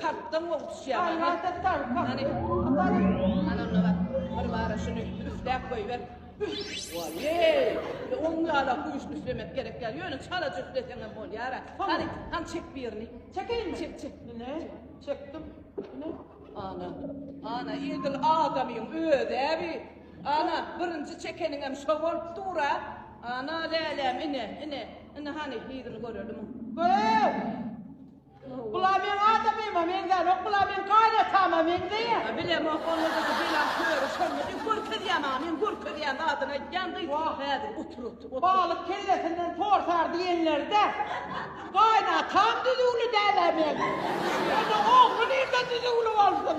Kartdan gowy düşýär. Karata tar kary. Ana onda bar. Bir bara şuny üfläp goýber. Waýeý! Ýa oň ýala güýçli üflemek gerek däl. Ýöne çalaja üfleseňem bolýar-a. Hany, hany çek birini. Çekeýinmi? Çek, çek. Ine, çekdim. Ine. Ana, ana edil adamyň özi-ä bi. Ana, birinji çekeniňem şo bolup dur-a. Ana, läläm, ine, ine. Indi hany, yzyny göreliň. Göreýin! Bula meň adamyma meňzänok, bula meň kaýnatama meňzeýär. A bilemok, onda da bu bela köri şonda diýip görkezýär maňa, men görkezýän zadyny aýtýan gyz häzir otur otur. Balyk kellesinden torsar diýenlerde, kaýnatam düzüwli däl-ä meň. Onda ogly nirden düzüwli bolsun.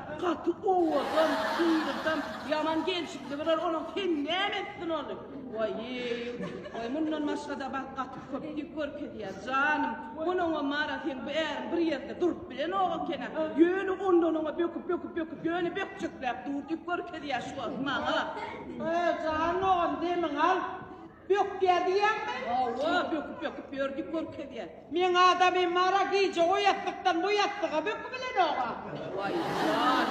Gaty owadan, çyňňyrdam, ýaman gelşikli birer onuň kim näme etsin ony? Waýýew, waý mundan başga-da bak gaty köp dip görkezýär, janym. Munuň-a Mara seň bu äriň bir ýerde durup bilenok eken-ä. Ýöne ondan oňa böküp, böküp, böküp, ýöne bökjekläp dur dip görkezýär şu wagt maňa. Öý, jan dogan, demiňi al. Bökýä diýýäňmi? Hawa, böküp-böküp ýör diýip görkezýä. Meň adamym mara gije o ýassykdan bu ýassyga bökübilenog-a. Waý, jan,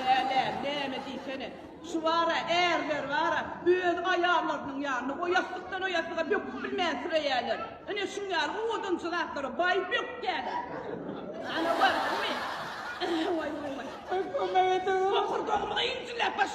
lälä, näme diýsene. Şu bar-a, ärler bar-a, öz aýallarynyň ýanyna o ýassykdan o ýassyga böküp bilmänsirärler. Ine, şuň ýaly odunçy zatlara baý bökýäler. Ana, gördiňmi? Waý, waý, waý. Kömek ediň! Bokurdagymy-da injiläp başlaýar.